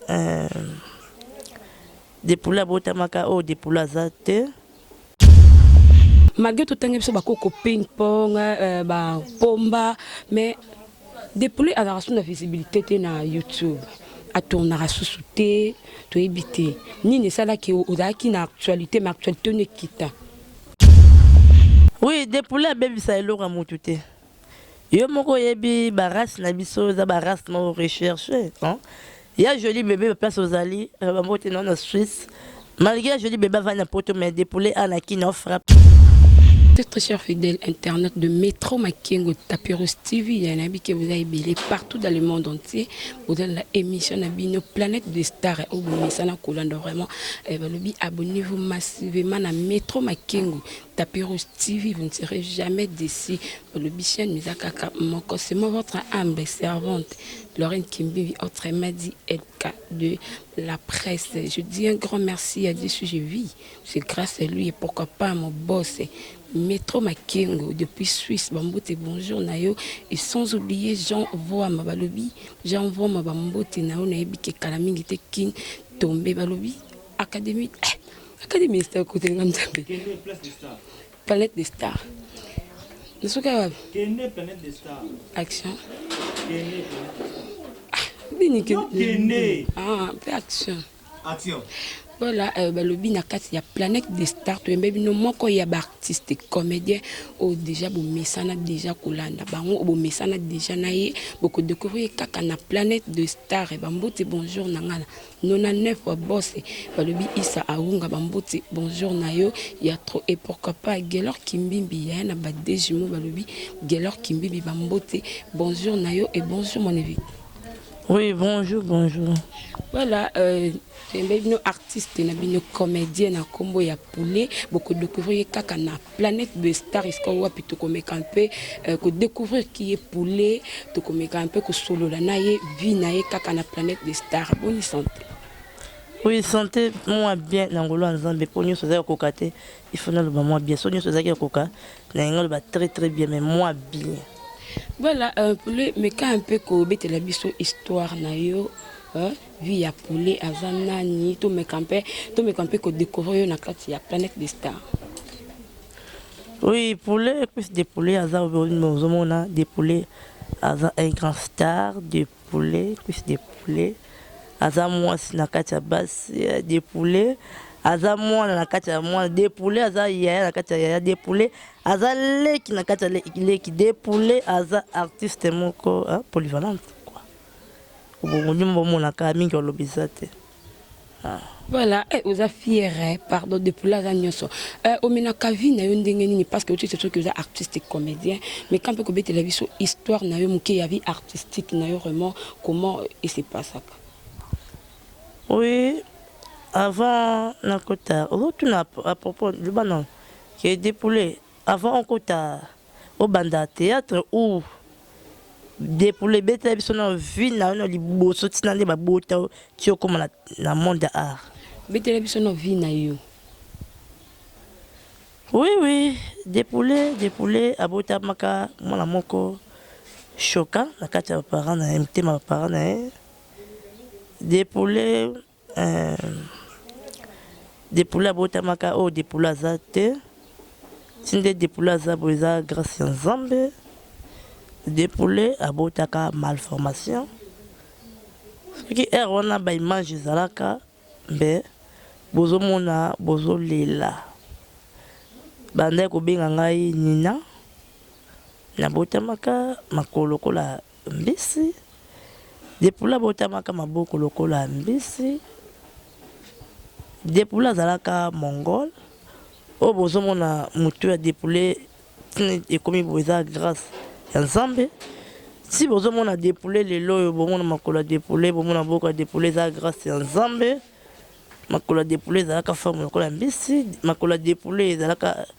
Euh, depula abotamaka oyo oh, depula aza te malgré totangi biso bakoko ping pong euh, bapomba mais depule azalaka so na visibilité te na youtube atournaka susu te toyebi te nini esalaki ozalaki na actualité ma actualité ono ekita oui depule abebisa eloko ya motu te Yo moko oyebi ba race na biso eza ba race moko recherche hein ya jolie bebe ba place ozali euh, ba mbote na na Suisse malgré ya jolie bebe avandi na poto mais de poulet a na kin frappe Très très cher fidèle internet de Metro Makengo Tapirus TV ya na bike vous avez belé partout dans le monde entier vous avez la émission na bino planète des stars au bomisa na kolanda vraiment eh, balobi abonnez-vous massivement na Metro Makengo Tapis Rouge TV, vous ne serez jamais déçu. Bolobi chaîne eza kaka moko. C'est moi votre humble servante, Lorraine Kimbibi, autrement dit LK de la presse. Je dis un grand merci à Dieu si je vis. C'est grâce à lui et pourquoi pas à mon boss. Metro Makengo depuis Suisse, Bambote, bonjour Nayo, et sans oublier Jean Voa Mabalobi, Jean Voa Mabambote, Nayo Nayebi Kekalamingi Tekin, tombé Balobi, Académie, eh, Académie des stars côté nga mzambe. Kende place des stars. Palette des stars. Nasuka wapi? Kende planète des stars. Action. Kende planète des stars. Nini Non, kende? Kende. Ah, mpe action. Action. Voilà, euh, balobi na kati ya planète des stars toyembe bino moko ya baartiste comédien oyo déjà bomesana déjà kolanda bango oyo bomesana déjà na ye bokodécouvrir ye kaka na planète de star bambote bonjour na ngai na 99 fois boss balobi isa awunga ba mbuti bonjour na yo ya trop et pourquoi pas gelor kimbimbi yaya na ba deux jumeaux balobi gelor kimbimbi ba mbuti bonjour na yo et bonjour mon invité Oui, bonjour, bonjour. Voilà, euh, bino artiste na bino comédien na kombo ya poulet, boko découvrir kaka na Planète de Star esika wapi tokomeka mpe euh, ko découvrir qui est Poulet, tokomeka mpe kosolola na ye vie na ye kaka na Planète de Star. Bonne santé. Oui, santé moi bien na ngolo ya Nzambe mpo nyonso ezali kokoka te il faut naloba mwa bien so nyonso ezalaki kokoka na yango aloba très très bien mais mwa bien voilà euh, Poulet meka mpe kobetela biso histoire na yo hein? Vie ya poulet aza nani to meka mpe to meka mpe ko décorer yo na kati ya planète des stars. Oui, poulet plus des poulets aza ozomona des poulets aza un grand star des poulets plus des poulets aza mwasi na kati ya basi euh, des poulets aza mwana na kati ya mwana de poulet aza yaya na kati ya yaya de poulet aza leki na kati ya leki de poulet aza artiste moko polyvalente Bongo nyuma bomona kaka mingi olobi eza te. Ah. Voilà, eh, oza fière, eh, pardon, de poula za nyoso. Eh, omena kavi na yo ndenge nini parce que otite soki oza artistique comédien, mais quand peut kobete la biso histoire na yo muke ya vie artistique na yo vraiment comment il se passe ça. Oui, avant nakota, otuna à propos de banon, qui est dépoulé avant on kota obanda theatre ou de pour le beta biso na vie na na liboso tina nde babota ti okoma na, na monde ya art betela biso na vie na yo oui oui depule depule abotamaka mwana moko choka na kati ya baparent na ye motema baparent na ye depule Eeh depule abotamaka oyo depule aza te ti nde depule aza boye eza grace ya nzambe depule abotaka malformation soki heure wana ba image ezalaka mbe bozomona bozolela bandaki kobenga ngai nina nabotamaka makolo lokola Mbisi Depula abotamaka maboko lokola mbisi. Depula azalaka mongol. Oyo bozomona motu ya Depule tini ekomi boye eza grâce ya Nzambe. Si bozomona Depule lelo oyo bomona makolo ya Depule, bomona maboko ya Depule eza grâce ya Nzambe. Makolo ya Depule ezalaka forme lokola mbisi. Makolo ya Depule ezalaka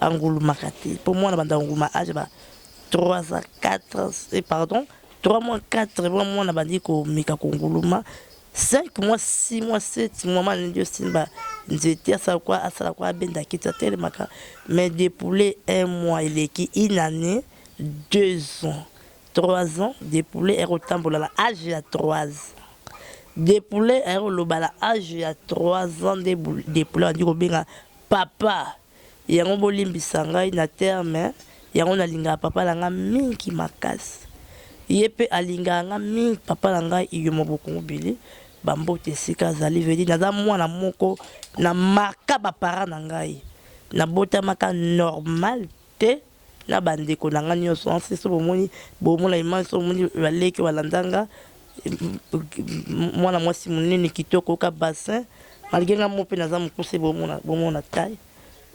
angulumaka te po mwana banda nguluma age ba 3 ans 4 ans eh, pardon 3 mois 4 mois mwana bandi komeka konguluma 5 mois 6 mois 7 mois mwana ndio simba nzete asala kwa asala kwa abenda kiti atelemaka mais depouler un mois eleki une année deux ans trois ans depouler ekotambola na age ya trois ans depouler ayekoloba na age ya trois ans nde depouler bandi kobenga Papa yango bolimbisa ngai na terme yango na lingaka papa na nga mingi makasi ye pe alingaka nga mingi papa na ngai iyomo bokungu bili ba mbote esika azali vedi naza mwana moko na marka ba parent na ngai na botamaka normal te na ba ndeko nanga nioso en ce sobo moni bomona image sobo moni ba leki ba landanga mwana mwasi munene kitoko ka bassin malgré nga mope naza mukuse bomona bomona taille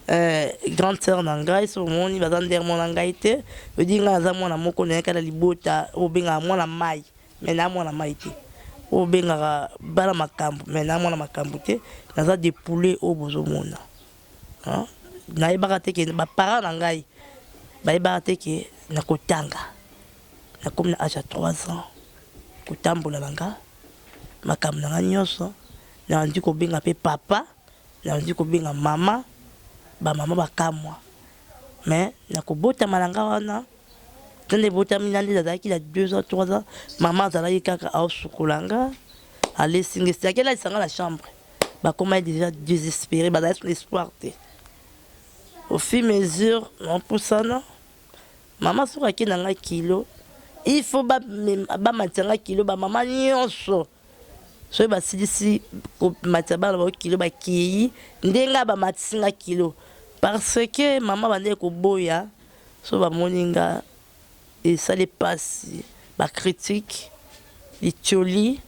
Euh, grande sœur na ngai so omoni baza ndere mwana ngai te odi ngai aza mwana moko nayaka na libota oyo obengaka mwana mai me naa mwana mai te oyo obengaka bana makambo me naa mwana makambo te naza de poulet oyo bozomona Hein? Nayebaka te que ba parents na ngai bayebaka te que nakotanga. Nakomi na age ya 3 ans kotambola na nga makambo na nga nyonso nabandi kobenga pe papa nabandi kobenga mama ba mama bakamwa mais na kobotama na nga wana to nde ebotami na nde nazalaki na 2 ans 3 ans mama azalaki kaka aosukola nga alesi nga esengaki alalisa nga na chambre bakoma deja desespere bazalaki na espoir te au fur mesure napusana mama soki ake na ngai kilo il faut bamatisa ngai kilo bamama nyonso soki basilisi komatisa bana bao kilo bakei ndenge bamatisi ngai kilo parce que mama bandeki koboya so bamoni ngai Esali pasi ba critiques, litioli,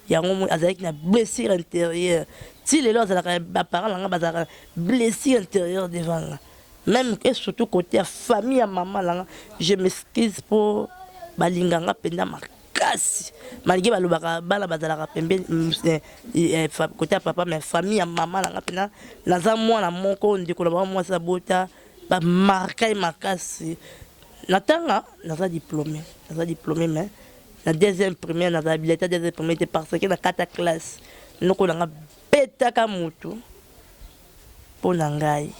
yango omoni azalaki na blessure interieure ti lelo azalaka ba parents na nga bazalaka blessure interieure devant nga meme et surtout cote ya famille ya maman na nga je m'excuse po balinga nga penza makasi makasi malgre balobaka bana bazalaka pembeni mm, eh, eh, kote ya papa mais famille ya mama na nga mpena naza mwana moko ndeko na bango mwasi abota Ba marka ye makasi. Na tanga naza diplome, naza diplome mais na deuxième primaire na zala bileta deuxième primaire te parce que na kata classe noko na nga betaka mutu mpo na ngai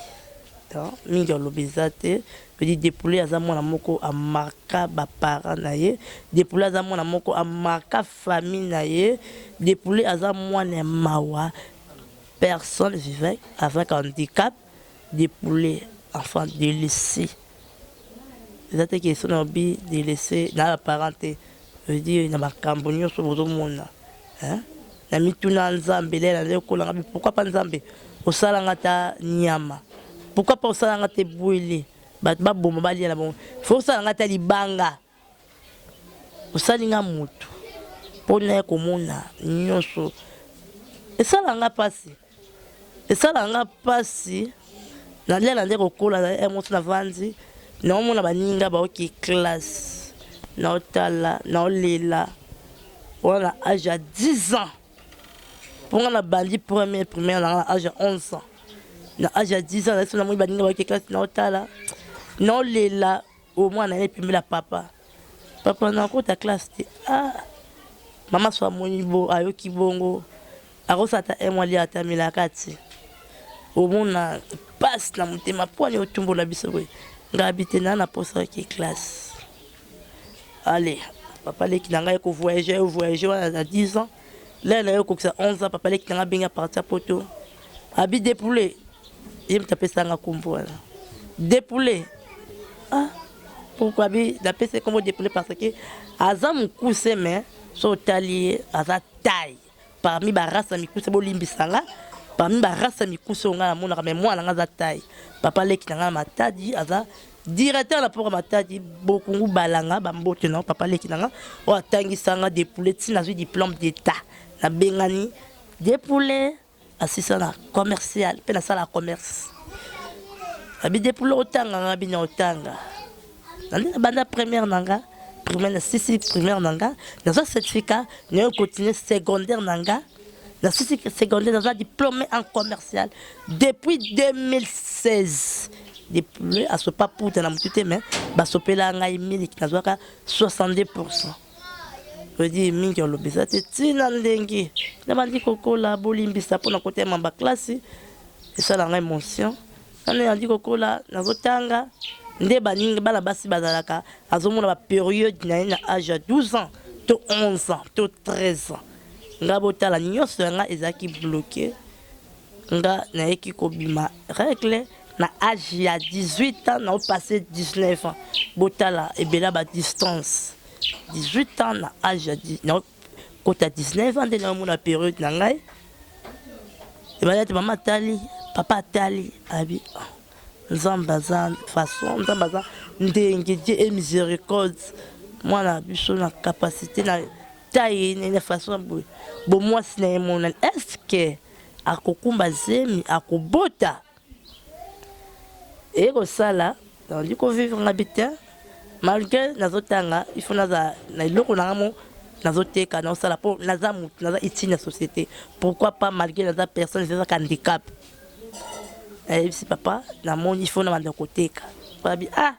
donc mingi alobi eza te edi depule aza mwana moko amarka baparent na ye depule aza mwana moko amarka famille na ye depule aza mwana ya mawa personne vivant avec handicap de poulet enfin de laisser eza te question na lobi de laisser na ba parents te veut dire na makambo nyonso bozomona hein na mituna nzambe lele na leko na ngabi pourquoi pas nzambe osala nga ta nyama pourquoi pas osala nga te bwele bato baboma balia na bango faut osala nga ta libanga Osali nga mutu mpo naye komona nyonso esala nga pasi esala nga pasi nalia na nde kokola na yango ti navandi naomona baninga baoki classe naotala naolela wana na age ya 10 ans mpo nga nabandi premier primaire na nga na age ya 11 ans na age ya 10 ans nasi namoni baninga baoki classe naotala naolela Oyo mwana na ye pembeni ya papa. Papa na kota classe te. Ah. Mama so amoni bo ayoki bongo. Akosala ata un mois lia ata melaka te. Omona pasi na motema mpo ani otumbola biso boye. Ngai abite na na posa ki classe. Allez, papa leki na ngai ko voyager, voyager wana na 10 ans. Lea na yo kokisa 11 ans papa leki na nga bengi a partir poto. Abi depoule. Ye mta pesa nga kombo wana. Depoule. Ah. Pourquoi abi na pesa kombo depoule parce que aza mukuse mais so otali ye aza taille parmi ba race mikuse bolimbisa nga parmi ba race mikuse nga na monaka mais mwana nga aza taille. Papa leki na nga matadi aza Directeur na port Matadi Bokungu Balanga ba mbote na papa leki nanga o atangisa nga des poulets tina zui diplôme d'état na bengani des poulets asisa na commercial pe na sala commerce abi des poulets otanga nga bina otanga nande na banda première nanga primaire na sisi primaire nanga nazwa certificat nayo continue secondaire nanga na sisi secondaire naza diplôme en commercial depuis 2016 depuis asopa puta na motu te mais basopela ngai miliki nazwaka 62 pourcent odi mingi olobi eza te ntina ndenge nabandi kokola bolimbisa mpo na kotema baklasi esala ngai motion nano yandi kokola nazotanga nde baninga bana basi bazalaka azomona baperiode na ye na age ya 12 ans to 11 ans to 13 ans nga botala nyonso ya nga ezalaki bloke nga nayeki kobima règle na age ya 18 ans nao passe 19 ans botala ebela ba distance 18 ans na age ya nao kota 19 ans nde naomona periode na ngai ebanda te mama atali papa atali abi ah, nzambe aza façon nzambe aza ndenge die e miséricorde mwana biso na capacité na taille na façon boye bo mwasi na ye monani est-ce que akokumba zemi akobota eye kosala naondi kovivre nga bi te malgré nazotanga il faut naza na eloko na nga mo nazoteka naosala mpo naza motu naza utile na société pourquoi pas malgré naza personne ezazaka handicap ayebisi papa namoni il faut na banda koteka babi ah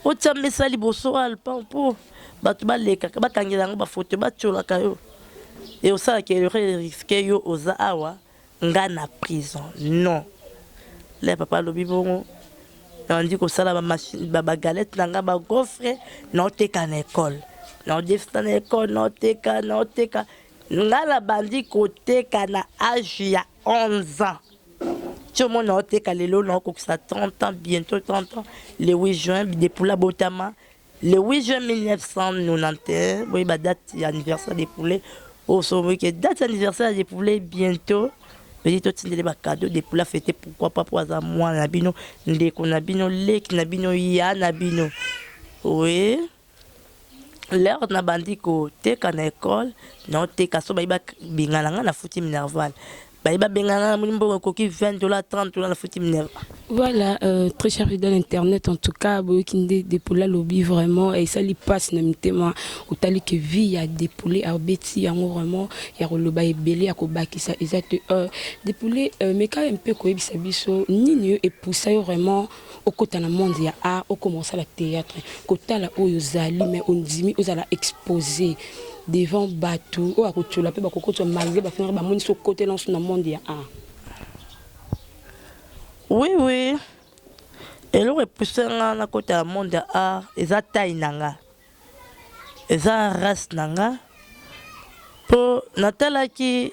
Otya mesa liboso ya lopango mpo bato balekaka bakangela yango bafoto batyolaka yo e osalaka erreur eriske yo oza awa nga na prison non le papa alobi bongo nandi kosala bagalete na nga bagofre naoteka na ekole naodefisa na ekole naoteka naoteka nga na bandi koteka na age ya 11 ans Chomo na oteka lelo na okokisa 30 ans bientôt 30 ans le 8 juin bidepula botama le 8 juin 1991 boyeba date ya anniversaire de poulet osomoki ke date ya anniversaire de poulet bientôt pedi totindele bacado de poula fete pourquoi pas mpo aza mwana na bino ndeko na bino leki na bino ya na bino oye oui. L'heure na bandi ko teka na école na oteka so bayi ba bengana nga na futi minerval bayi ba bengana moni mbongo ekoki 20 dollars 30 dollars na futi minerval Voilà, euh, très cher fidèle internet, en tout cas, boyoki nde Depoula lobi vraiment, et ça li passe na mitema, otali que vie ya Depoule a beti yango vraiment, ya koloba ebele ya kobakisa eza te. Euh, Depoule, euh, meka un peu koyebisa biso nini yo epusa yo vraiment okota na monde ya art okoma kosala theatre kotala oyo ozali mais ondimi ozala expose devant bato oyo akotyola mpe bakokotwa malgre bafingaka bamoni so okotela nso na monde ya art oui oui eloko epuse nga nakota ya monde ya art eza tai na nga eza race na nga mpo natalaki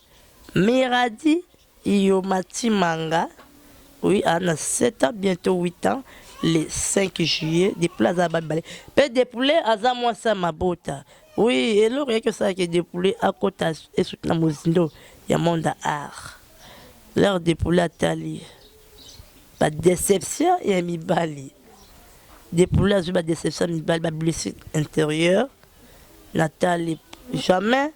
Miradi iyo matimanga oui a na 7 ans bientôt 8 ans le 5 juillet depuis aza ba mibale pe depule aza mwasi ya mabota oui eloko yaki osala ke depule akota esuki na mozindo ya monde ya art leur depule atali ba deception ya mibali depule azwi ba deception ya mibali ba blessure intérieure natali jamais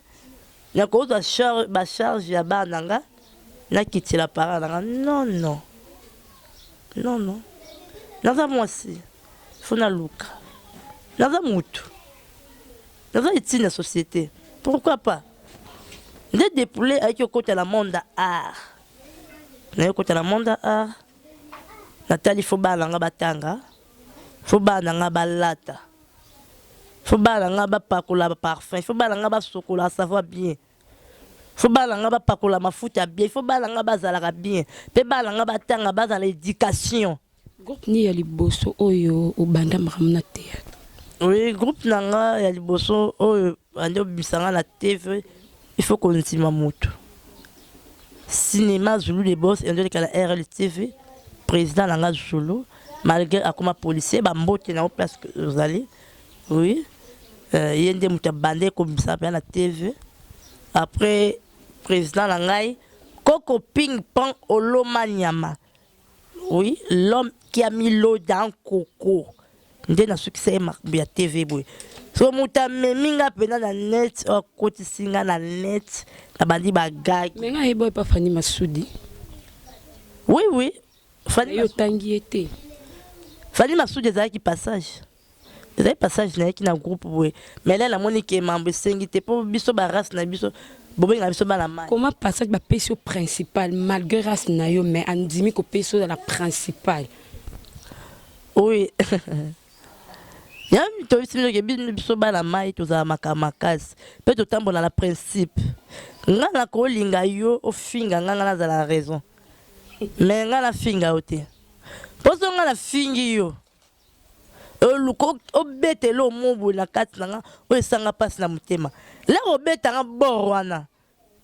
Nakozwa charge ba charge ya bana na nga nakitela parent na nga non non non non naza mwasi faut naluka naza mutu naza etine ya société pourquoi pas nde depule ayaki okota na monde ya art naye okota na monde ya art natali fo bana na nga batanga fo bana na nga balata Faut bana na nga bapakola ba parfum, faut bana na nga basokola savoir bien, faut bana na nga bapakola mafuta ya bien, faut bana na nga bazalaka bien mpe bana na nga batanga bazala na education. Groupe nini ya liboso oyo obanda makambo na theatre? Oui, groupe na nga ya liboso oyo bandi obimisa nga na TV il faut kondima moto cinéma zulu de boss endolikala rltv président na nga zulu malgré akoma policier ba mbote na place que ozali oui euh, ye nde moto abandaki kobimisa mpenza na tv après président na ngai koko ping pong oloma nyama oui l'homme qui a mis l'eau dans koko nde nasukisa ye makambo ya tv boye so moto amemi nga mpenza na net oyo akotisi nga na net nabandi bagage me nga yeba epa fani masudi oui oui Fally yo tangi ye te. Fally masudi ezalaki passage. Ezali passage na yaki na groupe boye. Mais là namoni ke mambo esengi te po biso ba race na biso bobenga biso bana mayi. Comment passage ba pesi yo principal malgre race na yo mais andimi ko pesa ozala principal. Oui Yami to bisi mino ke biso bana mayi tozala maka makasi pe totambola na principe. Nga na ko linga yo ofinga nga nga nazala raison. Mais nga na finga yo te. Poso nga na fingi yo. Oluko obete lo mobo na kati na nga oyo esanga pasi na motema. La obeta nga bor wana.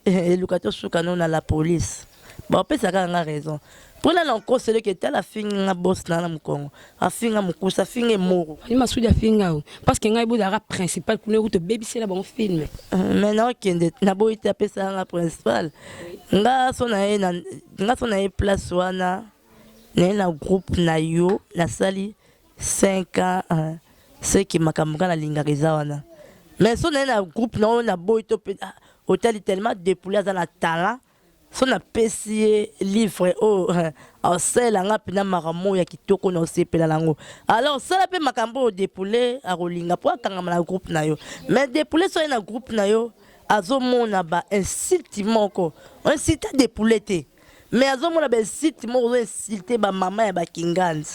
Eh, eluka to suka no na la police. Ba opesa kaka nga raison. Pona na nkosele ke tala fingi nga boss na na mukongo. afinga mukusa afinga emoro ali masudi afinga o parce que ngai bozalaka principal kuna ekuti obebisela bango filme euh, mais naokende naboyi te apesaka nga principal nga so na ye nga so na ye place wana naye na groupe na yo nasali 5 ans euh, seki makambo nga nalingaka eza wana mais so naye na groupe na oyo naboyi to mpe ah, otali tellement depoule aza na talent Soki na pesi ye livre oyo asalela nga pina makambo ya kitoko na osepela na yango. Alors sala pe makambo oyo Depule akolinga po akangama na groupe na yo. Mais Depule soki aye na groupe na yo azomona ba insulte moko. O insulta Depule te mais azomona ba insulte moko ozo insulter ba mama ya ba kingandi.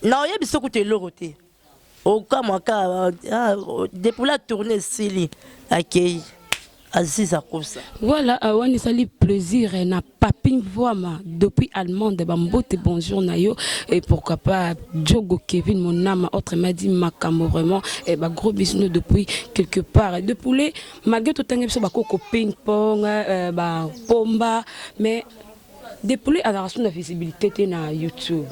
Na oyebisa ye kutu eloko te. okamwa ka depuis la tourne esili akei aziz akosa voilà awani euh, ezali plaisir eh, na papin voama depuis allemande bambote bonjour na yo et pourquoi pas jogo kevin monama autre m'a dit makambo vraiment et eh, bagros bisino depuis quelque part de poulet malgré totangi biso bakoko ping pong euh, bapomba mais Depouille azalaka susu na visibilité te na YouTube,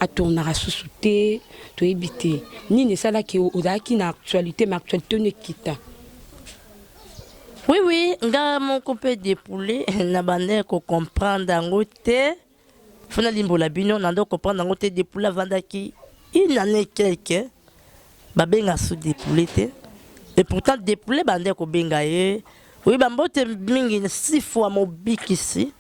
atournaka susu te, toyebi te nini esalaki ozalaki na actualité mais actualité oyo ekita. Oui oui, nga moko mpe Depouille na banda ya ko comprendre yango te, fona limbola bino na ndo comprendre yango te. Depouille avandaki une année quelque Babenga sous depouler te et pourtant depouler bande kobenga ye oui bambote mingi sifu ya mobikisi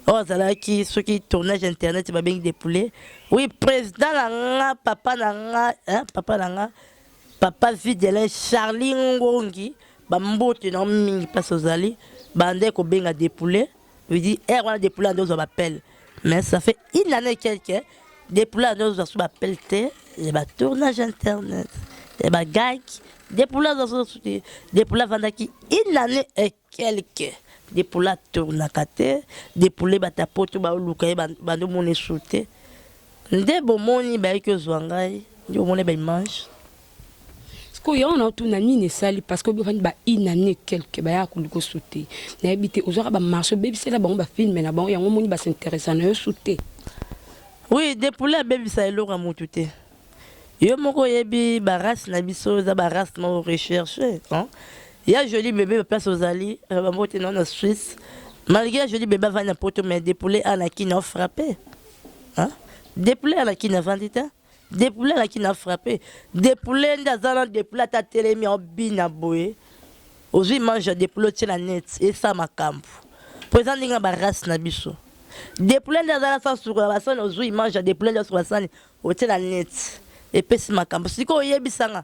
oyo azalaki soki tournage internet babengi depouler oui président na nga papa na nga hein, papa na nga papa videlin charlie ngongi bambote na mingi mpasi ozali bande kobenga depouler Lui dit, heure wana depuis là nde ozwa bapele mais ça fait une année quelque depuis là nde ozwa so bapele te ya batournage internet ya bagag depuis là ozwa so depuis là avandaki une année et quelque depuis là tournaka te depuis là bata poto baoluka ye bandomona esu te nde bomoni bayaki ozwa ngai nde omoni baimage sikoyo yango naotuna nini esali parce que obifani ba une année quelque bayaka koluka su te nayebi te ozwaka bamarche obebisela bango bafilme na bango yango omoni basinteresa na yo su te oui depule abebisa eloko ya motu te yo moko oyebi barace na biso eza barace moko recherche ya joli bebe baplace ozali euh, bambote nao na suisse malgré ya joli bebe avandi na poto mais depule a na kini aofrappe depule a na kini avandi te Depoule alaki na frappe. Depoule nde aza na depoule ata atelemi aobina boye. Ozwi image ya depoule otie na net esa makambo. Mpo eza ndenge ya barace na biso. Depoule nde aza na sa sukola basani ozwi image ya depoule nde asukola sani otie na net. Epesi makambo. Sikoyo oyebisa nga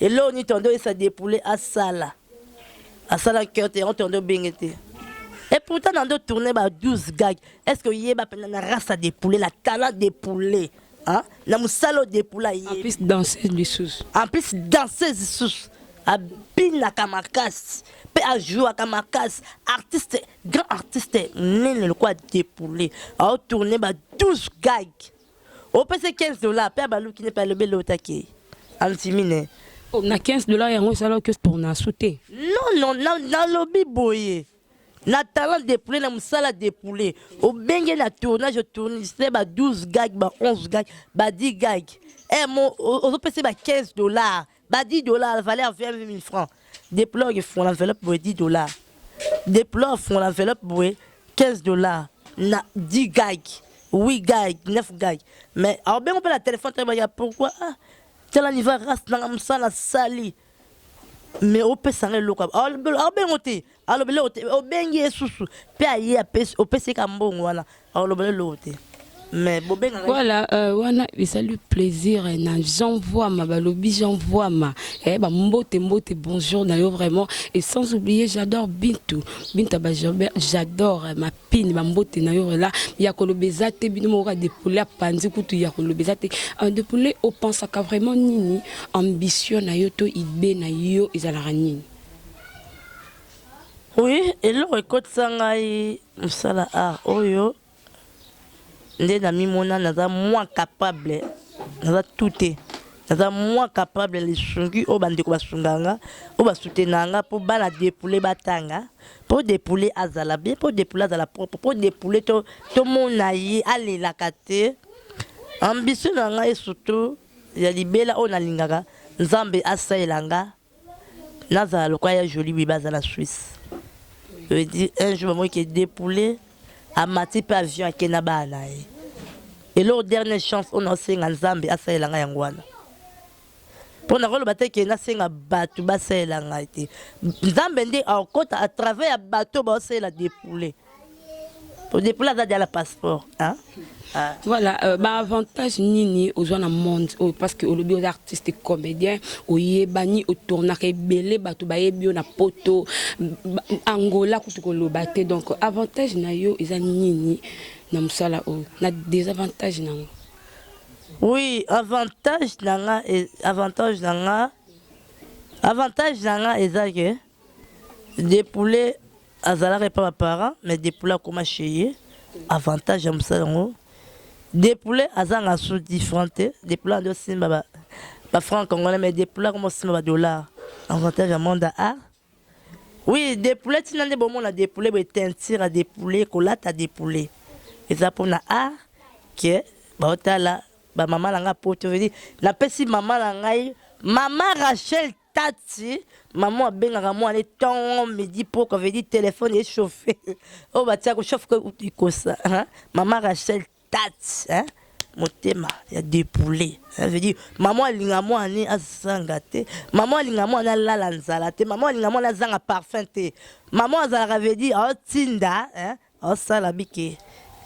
Eloko ni tondo esa depoule asala asala cœur te yango tondo benge te et pourtant nando tourner ba 12 gag est ce que yeba pena na race de poulet la talent de poulet hein na musalo de poulet yeba en plus danseuse du sous en plus danseuse sous abinaka makasi mpe ajouaka makasi artiste grand artiste nene lokola depoule aotourne ba 12 gag Opese 15 dollars pe abaluki ne pe alobi elota ke andimi ne. Oh, na 15 dollars yango esala ke sport na su te. Non non na nalobi boye. Na talent de poulet na musala de poulet. Obenge na tournage tourniste ba 12 gag ba 11 gag ba 10 gag. Eh mon ozopese ba 15 dollars. ba 10 dollars valeur 20000 francs deplore efungola enveloppe boye 10 dollars deplore efungola enveloppe boye 15 dollars na 10 gag oui gag 9 gag mais aobengo mpe na telefone toyebaka pourquoi ah, tala niva race nanga mosala sali mais opesa nga eloko aobengo te aloba eloko te obengi ye susu mpe aye opesi ye ka mbongo wana aloba eloko te mais bobengaka voilà euh, wana ezali plaisir eh, na jean voama balobi jean voama eh, bambote mbote bonjour na yo vraiment et sans oublier j'adore bintu bintu ya bajobert j'adore eh, mapine bambote na yo rela ya koloba eza te bino moko kadepule apanzi kutu ya koloba eza te euh, depule opensaka vraiment nini ambition na yo to idée na yo ezalaka nini Oui, eloko ekotisa ngai mosala art oyo nde namimona naza moins capable naza tout te naza moins capable ya lisungi oyo bandeko basunga nga oyo basutena nga mpo bana depule batanga mpo depule azala bien mpo depule azala propre mpo depule tomona to ye alelaka te ambition na ngai surtout ya libela oyo nalingaka nzambe asalela nga Nazala lokola ya jolie bebe aza na suisse veut dire un jour bamoni ke depoule amati mpe avion ake na bana na ye eloko dernière chance oyo naosenga nzambe asalela ngai yango wana mpo nakoloba te ke nasenga bato basalela ngai te nzambe nde akota à travers ya bato baosalela depoule odepula aza deja na passeport hein? Ah. Voilà, euh, bah avantage nini aux gens dans le monde oh, parce que au lieu artiste comédien, au yebani au tournage belé bato ba yebio na poto Angola kutu ko lobate donc avantage na yo eza nini na musala o oh, na désavantage na ngo. Oui, avantage na nga avantage na nga avantage na nga eza que Depule azalaka epa ba parents mais Depule akoma chez ye avantage ya mosala yango Depule azanga su different te Depule andi osimba ba, ba francs congolais mais Depule akoma osimba ba dollars avantage ya monde ya art oui Depule ntina nde bomona Depule boye teinture ya Depule kolata Depule eza mpona art ke baotala bamama na ngai poto vedi napesi mama na ngai mama Rachel Tati, maman abengaka mwana ye tongo midi poko veut dire telephone e chauffe oyo batia ko chauffe ko ikosa hein? maman Rachel Tati hein? motema ya depoule hein? veut dire maman alinga mwana ne azanga te maman alinga mwana alala nzala te maman alinga mwana azanga parfum te maman azalaka veut dire aotinda hein? Osala bike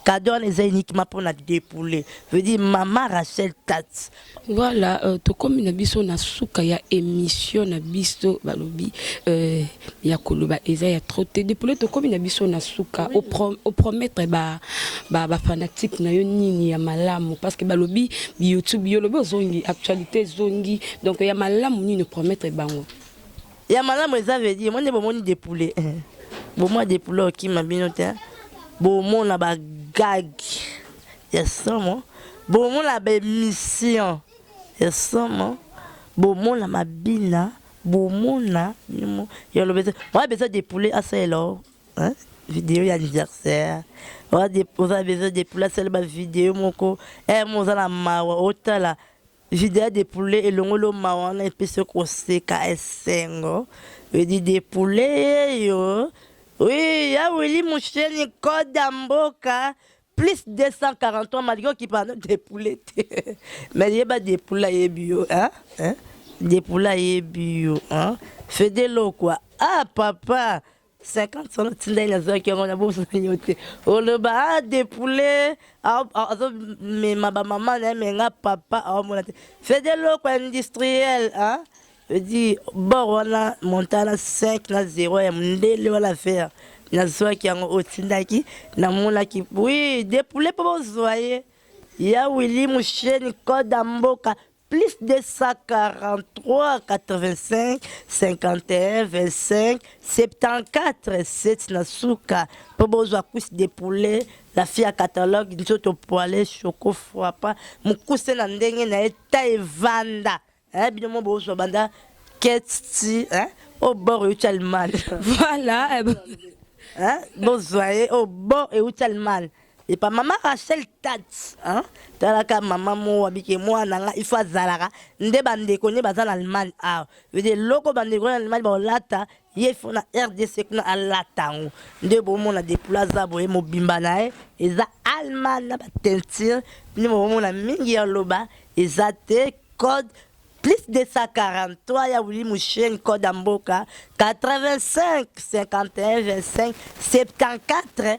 cadeau wana eza uniquement pour na dépouler veut dire maman Rachel Tats voilà euh, tokomi na biso na suka ya émission na biso balobi euh, ya koloba eza ya trop te depuis le tokomi na biso na suka au prom au promettre ba ba, ba fanatique na yo nini ya malamu parce que balobi YouTube yo lobi ozongi actualité zongi donc ya malamu nini promettre bango Ya malamu eza veut dire mwende bomoni de poulet. Eh. Bomwa de poulet okima bino te. Bomona ba gag ya somo. Bomona ba emission ya somo. Bomona mabina. Bomona mimo ya lobeza. Mwa beza de poulet asalela o. Hein? Video ya anniversaire. Oza beza de poulet asalela ba video moko. Eh, mo oza na mawa otala. Video ya de poulet elongoli yo mawa wana epesi yo koseka esengo edi de poulet yeyo oui ya Willy Musheni code ya mboka plus 243 malgré okipa no de poulet te mais yeba de poulet ayebi yo hein hein de poulet ayebi yo hein fede lokwa ah papa 50 solo tindai nazwaki yango na boso na yo te oloba ah, de poulet azomema bamama na ye menga papa aomona te c'est de loko industriel hein? edi bor wana montana 5 na 0 ya mondele wana vere nazwaki yango otindaki namonaki oui de poulet mpo bozwa ye ya wili musheni koda mboka plus 243 85 51 25 74 7 na suka mpo bozwa cuisse de poulet la fille ya catalogue nzoto poile choco frappa mokuse na ndenge na ye ta evanda eh, bino mo bozwa banda ketsti eh, o bor euti allemagne voilà eh, bozwa ye o bor euti allemagne epa mama rachel tat hein? talaka mama mo abike mwana nga ifo azalaka nde bandeko nde baza na allemagne awa vede eloko bandeko na allemagne baolata ye ifo na rdc kuna alata yango nde bomona depula aza boye mobimba na ye eza allemagne na batentire nde bomona mingi ya loba eza te code plus 243 ya wili musheni code ya mboka 85 51 25 74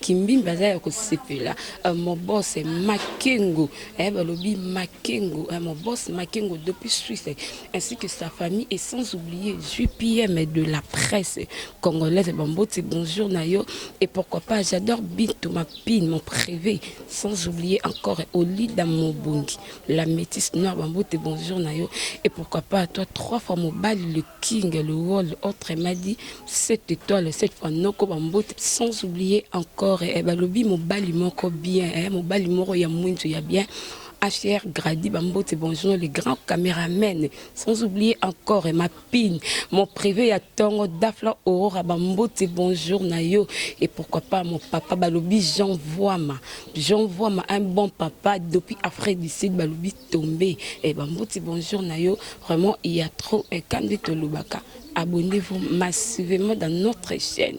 Kimbimbi aza ya kosepela euh, mobos Makengo eh, balobi Makengo eh, mobos Makengo depuis Suisse ainsi que sa famille et sans oublier JPM de la presse congolaise Bamboti bonjour nayo et pourquoi pas j'adore Bintou ma pine mon prévé sans oublier encore Olida Mobongi la métisse noire Bamboti bonjour nayo et pourquoi pas toi trois fois mobali le king le wall autre m'a dit Cette etoile cette fois noko ba mbote sans oublier encore eh, balobi mobali moko bien eh, mobali moko ya mwindu ya bien HR Grady Bambote Bonjour, les grands caméramens, sans oublier encore et ma pine, mon privé ya Tongo, Dafla Aurora Bambote Bonjour Nayo, et pourquoi pas mon papa Balobi Jean Voima, Jean Voima, un bon papa depuis Afrique du Sud, Balobi tombe eh, bambuti bonjour na yo vraiment il y a trop eh, kandi tolobaka abonnez-vous massivement dans notre chaîne